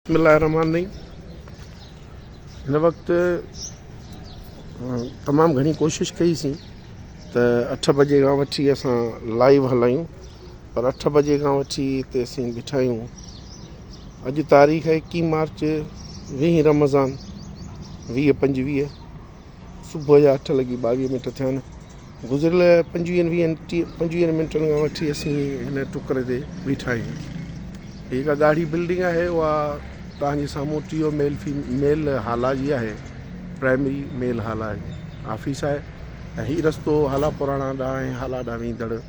بسم الله الرحمٰن الرحيم هن وقت تمام گهڻي ڪوشش ڪئي سين ته اٺ بجي کان وٺي اسان لائيو هلايون پر اٺ بجي کان وٺي هتي اسين بيٺا آهيون اڄ تاريخ ايڪيهه مارچ ويهه رمضان ويهه پنجويهه صبح جا اٺ لڳي ٻاويهه منٽ ٿيا آهن. گذريل پنجويهن ويهن ٽيهه پنجويهن منٽن کان وٺي اسين هن ٽڪر تي بيٺا آهيون. هي جيڪا ڳاڙهي بلڊنگ آهي اها توهان جي سامهون ٽيهو ميل في ميل هالا جي آهي. پرائمري ميل هالا آفيس آهي ۽ هي رستو هالا پراڻا ڏانهن ۽ هالا ڏانهن ويندڙ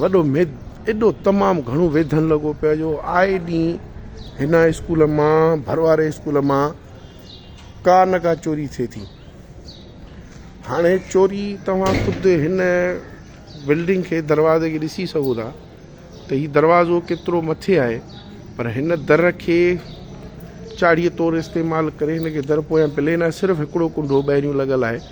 وڏو ميد ايڏو تمام گهڻو ويڌن لڳو پيو جو آئي ڏينهن هن اسڪول مان ڀر واري اسڪول مان ڪا نه ڪا چوري ٿئي ٿي هاڻي چوري توهان خود هن بلڊنگ کي دروازي کي ڏسي سگهو ٿا ته هي دروازو ڪيترو مٿي آهي پر هن در کي چاڙهيء طور استعمال ڪري هن کي در پويان پلين آهي صرف هڪڙو ڪنڊو ٻاهريون لڳل آهي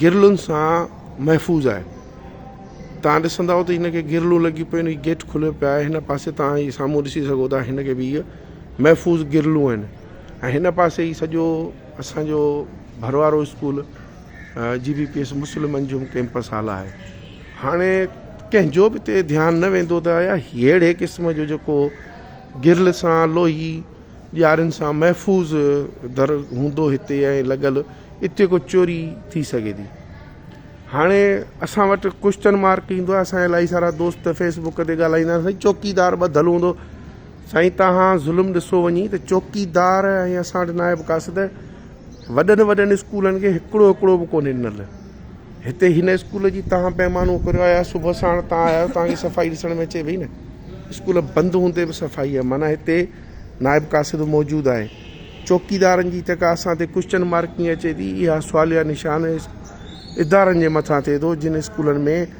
گرلن سان محفوظ آهي توهان ڏسندا ته هن کي گرلون لڳي پيون آهن گيٽ کليو پيو آهي هن پاسي توهان هي سامهون ڏسي سگهو ٿا هن کي به هي محفوظ گرلون آهن ۽ هن پاسي هي سڄو اسانجو ڀروارو school G B P S Muslim Anjum campus hall آهي هاڻي ڪنهنجو به هتي ڌيان نه ويندو ته آيا هيڙي قسم جو جيڪو گرل سان لوهي ڏيارين سان محفوظ در هوندو هتي ۽ لڳل اتي ڪو چوري ٿي سگهي ٿي هاڻي اسان وٽ ڪوشچن مارڪ ايندو آهي اسان الائي سارا دوست فيس بڪ تي ڳالهائيندا آهن سائين چوڪيدار ٻڌل هوندو سائين توهان ظلم ڏسو وڃي ته چوڪيدار ۽ اسان وٽ نائب قاصد وڏن وڏن اسڪولن کي هڪڙو هڪڙو به ڪونهي ڏنل. هتي هن اسڪول جي تان پيمانو ڪريو آهي آ صبح ساڻ تان آيا آهيو تان کي صفائي ڏسڻ ۾ اچي پئي نه اسڪول بند هوندي به صفائي آهي معنيٰ هتي نائب قاصد موجود آهي چوڪيدارن جي جيڪا اسان تي ڪوشچن مارڪنگ اچي ٿي اها سواليا نشان ادارن جي مٿان ٿئي ٿو جن اسڪولن ۾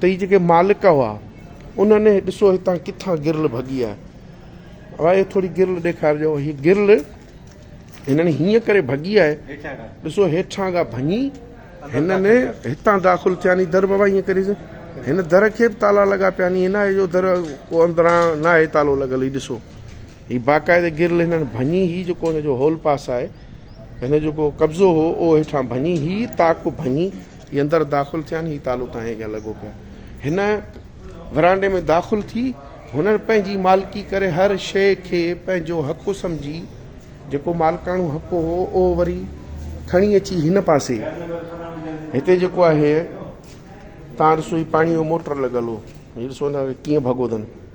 تي جيڪي مالڪ هئا انهن هي ڏسو هتان ڪٿان گرل ڀڳي آهي اها هي ٿوري گرل ڏيکارجو هي گرل هنن هيئن ڪري ڀڳي آهي ڏسو هيٺان کان ڀڃي هنن هتان داخل ٿيا ني در بابا هيئن ڪريس هن در کي به تالا لڳا پيا ني هن آهي جو در ڪو اندران نه آهي تالو لڳل هي ڏسو هي باقاعده گرل هنن ڀڃي هي جيڪو هن جو هول پاس آهي هن جيڪو قبضو هو اهو هيٺان ڀڃي هي تاڪ ڀڃي هي اندر داخل ٿيا آهن، هي تالو تان هيجان لڳو پيو آهي. هن ورانڊي ۾ داخل ٿي، هنن پنهنجي مالڪي ڪري هر شيء کي پنهنجو حق سمجهي، جيڪو مالڪاڻو حق هو، اهو وري کڻي اچي هن پاسي، هتي جيڪو آهي، تان ڏسو هي پاڻيء جو موٽر لڳل هو، هي ڏسو هن کي ڪيئن ڀڳو اٿن.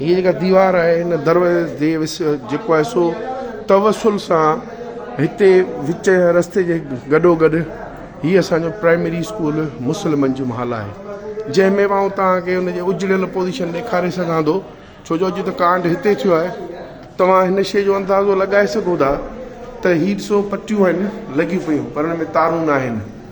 هيء جيڪا ديوار آهي هن دروازي تي وس جيڪو آهي سو توسل سان هتي وچ رستي جي گڏو گڏ هي اسان جو پرائمري اسڪول مسلمن جو محل آهي جنهن ۾ آئون توهان کي ان جي اجڙيل پوزيشن ڏيکاري سگهان ٿو ڇو جو اڄ ته ڪانڊ هتي ٿيو آهي توهان هن شيء جو اندازو لڳائي سگهو ٿا ته هي ڏسو پٽيون آهن لڳيون پيون پر ان ۾ تارون ناهن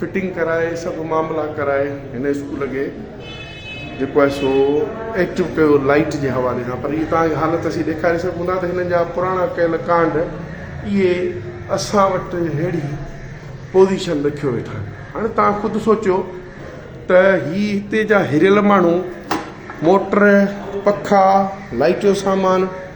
فٽنگ ڪرائي سڀ معاملا ڪرائي هن اسڪول کي جيڪو آهي سو ايڪٽو ڪيو لائيٽ جي حوالي سان پر اهي توهان کي حالت اسين ڏيکاري سگهون ٿا ته هنن جا پراڻا ڪيل ڪانڊ اهي اسان وٽ ههڙي پوزيشن رکيو ويٺا آهن هاڻي توهان خود سوچيو ته هي هتي جا هريل ماڻهو موٽر پکا لائيٽ جو سامان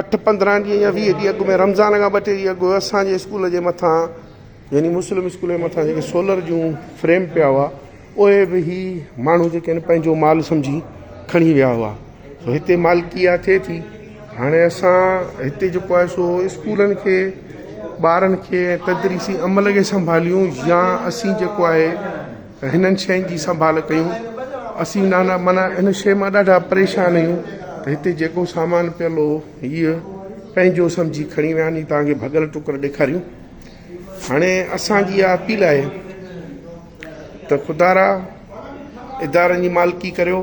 اٺ پندرهن ڏينهن يا ويهه ڏينهن اڳ ۾ رمضان کان ٻه ٽي ڏينهن اڳ اسان جي اسڪول جي مٿان يعني مسلم اسڪول جي مٿان جيڪي سولر جون فريم پيا هئا اهي به هي ماڻهو جيڪي آهن پنهنجو مال سمجهي کڻي ويا هئا سو هتي مالڪي اها ٿئي ٿي هاڻي اسان هتي جيڪو آهي سو اسڪولن کي ٻارن کي تدريسي عمل کي سنڀاليون يا اسين جيڪو آهي هنن شين جي سنڀال ڪيون اسين نانا معنيٰ هن شين مان ڏاڍا پريشان آهيون ته هتي جيڪو سامان پيل هو هيء پنهنجو سمجهي کڻي ويا ني توهان کي ڀڳل ٽڪر ڏيکاريون هاڻي اسان جي اها اپيل آهي ته خدارا ادارن جي مالڪي ڪريو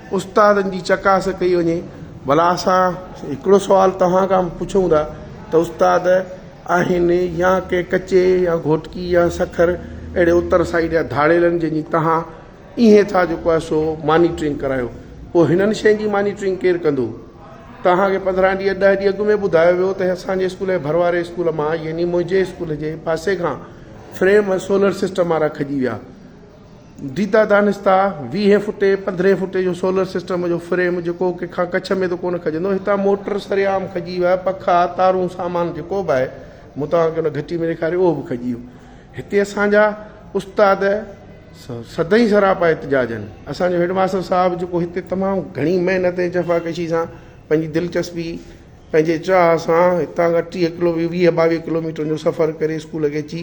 استادن جي چڪاس ڪئي وڃي ڀلا اسان هڪڙو سوال توهان کان پڇون ٿا ته استاد آهن يا ڪنهن ڪچي يا گهوٽڪي يا سکر اهڙي اتر سائيڊ جا ڌاڙيلن جن جي توهان ايئن ٿا جيڪو آهي سو مانيٽرنگ ڪرايو پوء هنن شين جي مانيٽرنگ ڪير ڪندو توهان کي پندرهن ڏينهن ڏهه ڏينهن اڳ ۾ ٻڌايو ويو ته اسان جي اسڪول جي ڀرواري اسڪول مان يعني منهنجي اسڪول جي پاسي کان فريم سولر سسٽم وارا کڄي ويا ديدا دانستا، ويهين فوٽي، پندرهين فوٽي جو سولر سسٽم جو فريم جيڪو ڪنهن کان ڪڇ ۾ ته ڪونه کڄندو، هتان موٽر سرعام کڄي ويا، پکا، تارون، سامان جيڪو به آهي، مون توهان کي ان گهٽي ۾ ڏيکاريو اهو به کڄي ويو. هتي اسان جا استاد سدائين سراپا احتجاج آهن. اسان جو هيڊ ماستر صاحب جيڪو هتي تمام گهڻي محنت ۽ جفاڪشي سان پنهنجي دلچسپي، پنهنجي چاهه سان هتان کان ٽيهه ڪلو ويهه ٻاويهه ڪلوميٽرن جو سفر ڪري اسڪول کي اچي،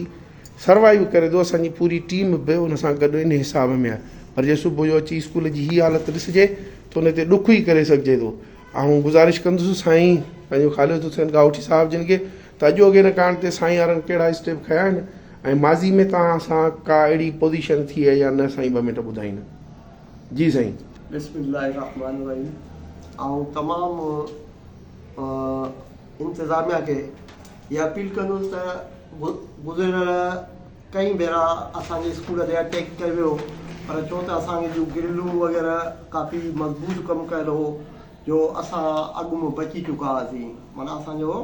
سروائيو ڪري ٿو اسان جي پوري ٽيم به ان سان گڏ ان حساب ۾ آهي پر جي صبح جو اچي اسڪول جي هي حالت ڏسجي ته ان تي ڏک ئي ڪري سگهجي ٿو آئون گذارش ڪندس سائين پنهنجو خالد حسين ڳاهوٺي صاحب جن کي ته اڄوڪي ان ڪانڊ تي سائين يارن ڪهڙا اسٽيپ کنيا آهن ۽ ماضي ۾ توهان سان ڪا اهڙي پوزيشن ٿي آهي يا نه سائين ٻه منٽ ٻڌائيندا جي سائين بسم الله الرحمٰن الرحيم آئون تمام انتظاميا کي اها اپيل ڪندس ته گذريل ڪئين ڀيرا اسان جي اسڪول تي اٽيڪ ڪيو ويو پر ڇو ته اسان کي جون گرلون وغيره ڪافي مضبوط ڪم ڪيل هو جو اسان اڳ ۾ بچي چڪا هئاسين معنيٰ اسان جو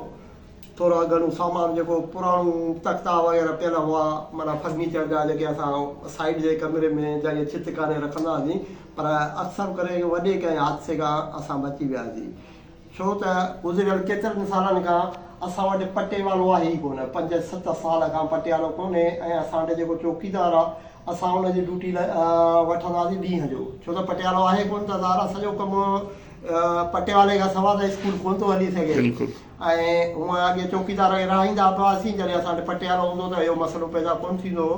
ٿورا گهڻو سامان جيڪو پراڻو تختا وغيره پيل هئا معنيٰ فرنيچر جا جيڪي اسان سائيڊ جي ڪمري ۾ جاڳي ڇت ڪاري رکندا هئاسين پر اڪثر ڪري وڏي ڪنهن حادثي کان اسان بچي وياسين ڇو ته گذريل ڪيترن سالن کان اسان وٽ پٽيوالو آهي ئي ڪونه. پنج ست سال کان پٽيالو ڪونهي ۽ اسان وٽ جيڪو چوڪيدار آهي، اسان ان جي ڊيوٽي وٺنداسين ڏينهن جو. ڇو ته پٽيالو آهي ڪونه ته ظاهر آهي سڄو ڪم پٽيوالي کان سواء ته اسڪول ڪونه ٿو هلي سگهي ۽ هونئن اڳي چوڪيدار رهائيندا به هئاسين، جڏهن اسان وٽ پٽيالو هوندو هو ته اهو مسئلو پيدا ڪونه ٿيندو هو.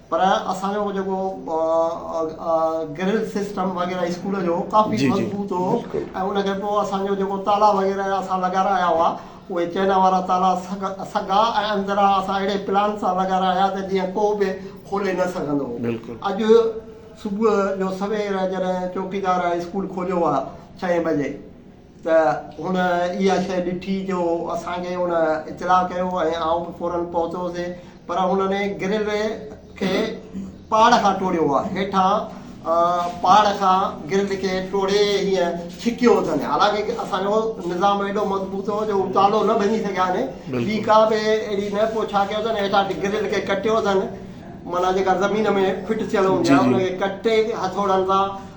پر اسان جو جيڪو گرل سسٽم وغيره اسڪول جو ڪافي مضبوط هو ۽ ان کان پوء اسان جو جيڪو تالا وغيره اسان لڳا رايا هئا اهي چئنا وارا تالا سگا ۽ اندرا اسان اهڙي پلان سان لڳا رايا ته جيئن ڪو به کولي نه سگهندو هو اڄ صبح جو سوير جڏهن چوڪيدار اسڪول کوليو آهي ڇهين بجي ته هن اها شيء ڏٺي جو اسان کي هن اطلاع ڪيو ۽ آئون به فوراً پهتو سي پر هنن گرل کي پاڙ کان ٽوڙيو آهي هيٺان پاڙ کان گرل کي ٽوڙي هيئن ڇڪيو اٿن حالانڪه اسان جو نظام ايڏو مضبوط هو جو هو تالو نه ڀڃي سگهيا آهن ٻي ڪا به اهڙي نه پوء ڇا ڪيو اٿن هيٺان گرل کي ڪٽيو اٿن معنيٰ جيڪا زمين ۾ فٽ ٿيل هوندي آهي ان کي ڪٽي هٿوڙن سان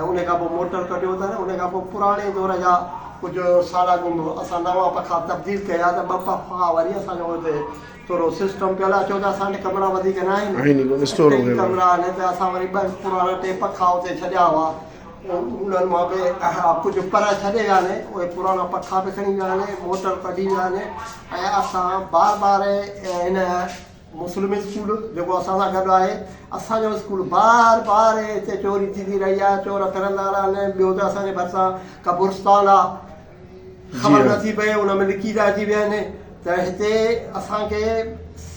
۽ ان کان پوء موٽر ڪڍيو اٿن ان کان پوء پراڻي دور جا ڪجهه سالا گم اسان نوان پکا تبديل ڪيا ته ٻه پکا وري اسان جو اتي ٿورو سسٽم ڪيل آهي ڇو ته اسان وٽ ڪمرا وڌيڪ نه آهن آهن ئي ڪونه اسٽور ٽي وغيره ڪمرا آهن ته اسان وري ٻه پراڻا ٽي پکا اتي ڇڏيا هئا انهن مان به ڪجهه پر ڇڏي ويا آهن اهي پراڻا پکا به کڻي ويا آهن موٽر ڪڍي ويا آهن ۽ اسان بار بار هن مسلم اسڪول جيڪو اسان سان گڏ آهي اسان جو اسڪول بار بار هتي چوري ٿيندي رهي آهي چور ڦرندا رهن ۽ ٻيو ته اسان جي ڀرسان قبرستان آهي خبر نه ٿي پئي ان ۾ لڪي ٿا اچي ويهن ته هتي اسان کي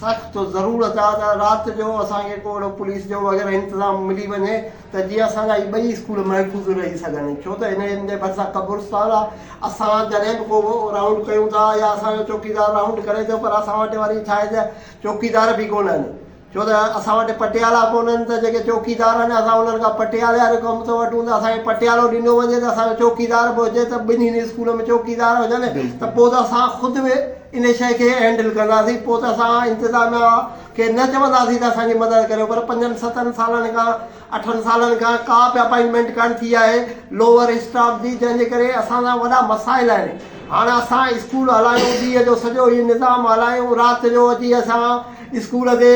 سخت ضرورت آهي ته رات جو اسان کي ڪو اهڙو پوليس جو وغيره انتظام ملي وڃي ته جيئن اسان جا هي ٻئي اسڪول محفوظ رهي سگهن ڇو ته هنن جي ڀرسان قبرستان آ اسان جڏهن به ڪو رائونڊ ڪيون ٿا يا اسان جو چوڪيدار رائونڊ ڪري ٿو پر اسان وٽ وري ڇا آهي ته چوڪيدار به ڪونهن ڇو ته اسان وٽ پٽيالا ڪونهن ته جيڪي چوڪيدار آهن اسان انهن کان پٽيالي وارو ڪم ٿو وٺون ته اسان کي پٽيالو ڏنو وڃي ته اسان جو چوڪيدار به هجي ته ٻنهي اسڪولن ۾ چوڪيدار هجن ته پوء ته اسان خود به ان شي کي هينڊل ڪنداسين پوء ته اسان انتظاميا کي نه چونداسين ته اسان جي مدد ڪريو پر پنجن ستن سالن کان اٺن سالن کان ڪا به اپائنٽمينٽ ڪانه ٿي آهي لوور اسٽاف جي جنهن جي ڪري اسان سان وڏا مسائل آهن هاڻ اسان اسڪول هلايون ڏينهن جو سڄو هي نظام هلايون رات جو اچي اسان اسڪول تي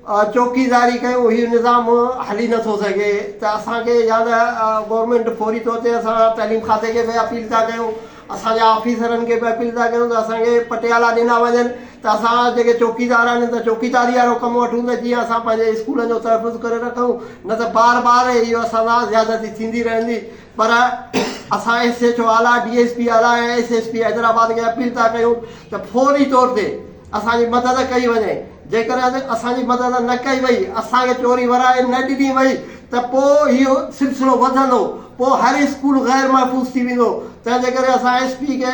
چوڪيداري ڪيون هي نظام هلي نٿو سگهي ته اسان کي يا ته گورنمينٽ فوري طور تي اسان تعليم کاتي کي به اپيل ٿا ڪيون اسان جي آفيسرن کي به اپيل ٿا ڪيون ته اسان کي پٽيالا ڏنا وڃن ته اسان جيڪي چوڪيدار آهن ته چوڪيداري وارو ڪم وٺون ته جيئن اسان پنهنجي اسڪولن جو تحفظ ڪري رکون نه ته بار بار اهو اسان سان زيادتي ٿيندي رهندي پر اسان ايس ايڇ او اعليٰ ڊي ايس پي اعليٰ ۽ ايس ايس پي حيدرآباد کي اپيل ٿا ڪيون ته فوري طور تي اسان جي مدد ڪئي وڃي، جيڪڏهن اسان جي مدد نه ڪئي وئي، اسان کي چوري ورائي نه ڏني وئي ته پوء اهو سلسلو وڌندو، پوء هر اسڪول غير محفوظ ٿي ويندو، تنهن جي ڪري اسان ايس پي کي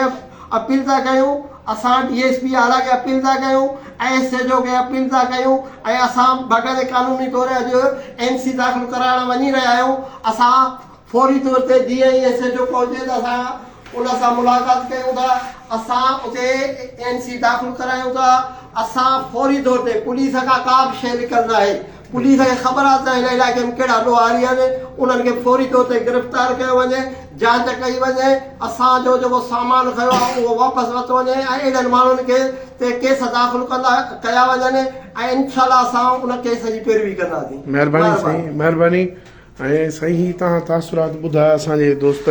اپيل ٿا ڪيون، اسان ڊي ايس پي اعليٰ کي اپيل ٿا ڪيون ۽ ايس ايڇ او کي اپيل ٿا ڪيون ۽ اسان باقاعدي قانوني طور اڄ اين سي داخل ڪرائڻ وڃي رهيا آهيون، اسان. فوري طور تي جيئن ئي ايس ايڇ او پهچي ته اسان ان سان ملاقات ڪيون ٿا، اسان اتي اين سي داخل ڪرايون ٿا، اسان فوري طور تي پوليس کان ڪا به شيء لڪل ناهي، پوليس کي خبر آهي ته هن علائقي ۾ ڪهڙا ڏوهاري آهن، انهن کي فوري طور تي گرفتار ڪيو وڃي، جاچ ڪئي وڃي، اسان جو جيڪو سامان کنيو آهي اهو واپس ورتو وڃي ۽ اهڙن ماڻهن کي تي ڪيس داخل ڪندا ڪيا وڃن ۽ انشاء الله اسان ان ڪيس جي پيروي ڪنداسين. مهرباني سائين مهرباني ۽ سائين هي توهان تاثرات ٻڌايا اسان جي دوست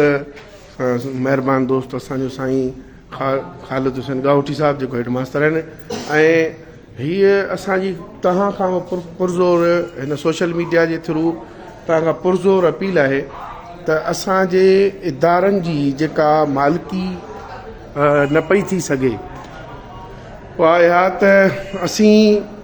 مهربان دوست اسان جو سائين خالد حسين ڳاهوٽي صاحب جيڪو هيڊ ماستر آهن ۽ هيء اسان جي توهان کان پرزور هن سوشل ميڊيا جي ٿرو توهان کان پرزور اپيل آهي ته اسان جي ادارن جي جيڪا مالڪي نه پئي ٿي سگهي اها اها ته اسين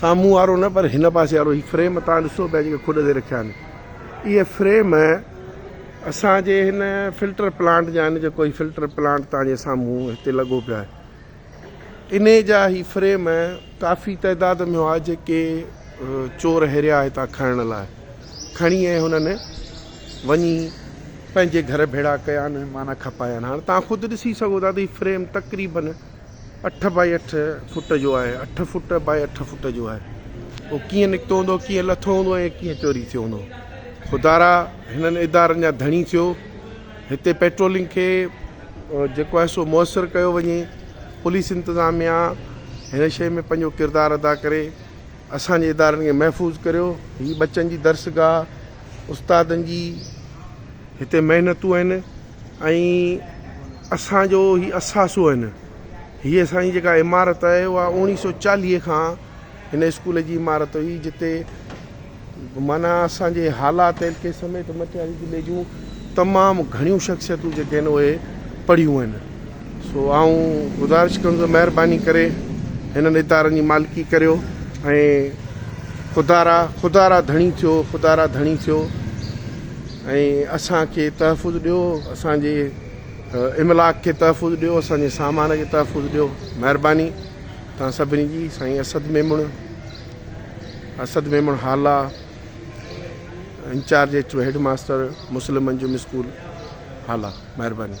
سامهون وارو نه پر هن پاسي وارو هي فريم تان ڏسو پيا جيڪي کڏ تي رکيا آهن اهي فريم اسان جي هن فلٽر پلانٽ جا آهن جيڪو هي فلٽر پلانٽ تان جي سامهون هتي لڳو پيا آهي انهي جا هي فريم ڪافي تعداد ۾ هئا جيڪي چور هيريا هتان کڻڻ لاء کڻي ۽ هنن وڃي پنهنجي گهر ڀيڙا ڪيا آهن معنيٰ کپايا آهن هاڻ تان خود ڏسي سگهو ٿا ته هي فريم تقريبن اٺ بائي اٺ فٽ جو آهي اٺ فٽ بائي اٺ فٽ جو آهي اهو ڪيئن نڪتو هوندو ڪيئن لٿو هوندو ۽ ڪيئن چوري ٿيو هوندو خدارا هنن ادارن جا ڌڻي ٿيو هتي پيٽرولنگ کي جيڪو آهي سو مؤثر ڪيو وڃي پوليس انتظاميا هن شيء ۾ پنهنجو ڪردار ادا ڪري اسانجي ادارن کي محفوظ ڪريو هي بچن جي درسگاهه استادن جي هتي محنتون آهن ۽ اسان جو هي اثاثو آهن. هيء اسان جي جيڪا عمارت آهي اها اوڻيهه سؤ چاليهه کان هن اسڪول جي عمارت هئي جتي معنيٰ اسان جي هالا تيلڪي سميت مٽياري ضلعي جون تمام گهڻيون شخصيتون جيڪي آهن اهي پڙهيون آهن سو آئون گذارش ڪندس مهرباني ڪري هنن ادارن جي مالڪي ڪريو ۽ خدارا خدارا ڌڻي ٿيو خدارا ڌڻي ٿيو ۽ اسان کي تحفظ ڏيو اسان جي املاڪ کي تحفظ ڏيو اسان جي سامان کي تحفظ ڏيو مهرباني تان سڀني جي سائين اسد ميمڻ اسد ميمڻ حالا انچارج اچو هيڊ ماستر مسلم انجم اسڪول حالا مهرباني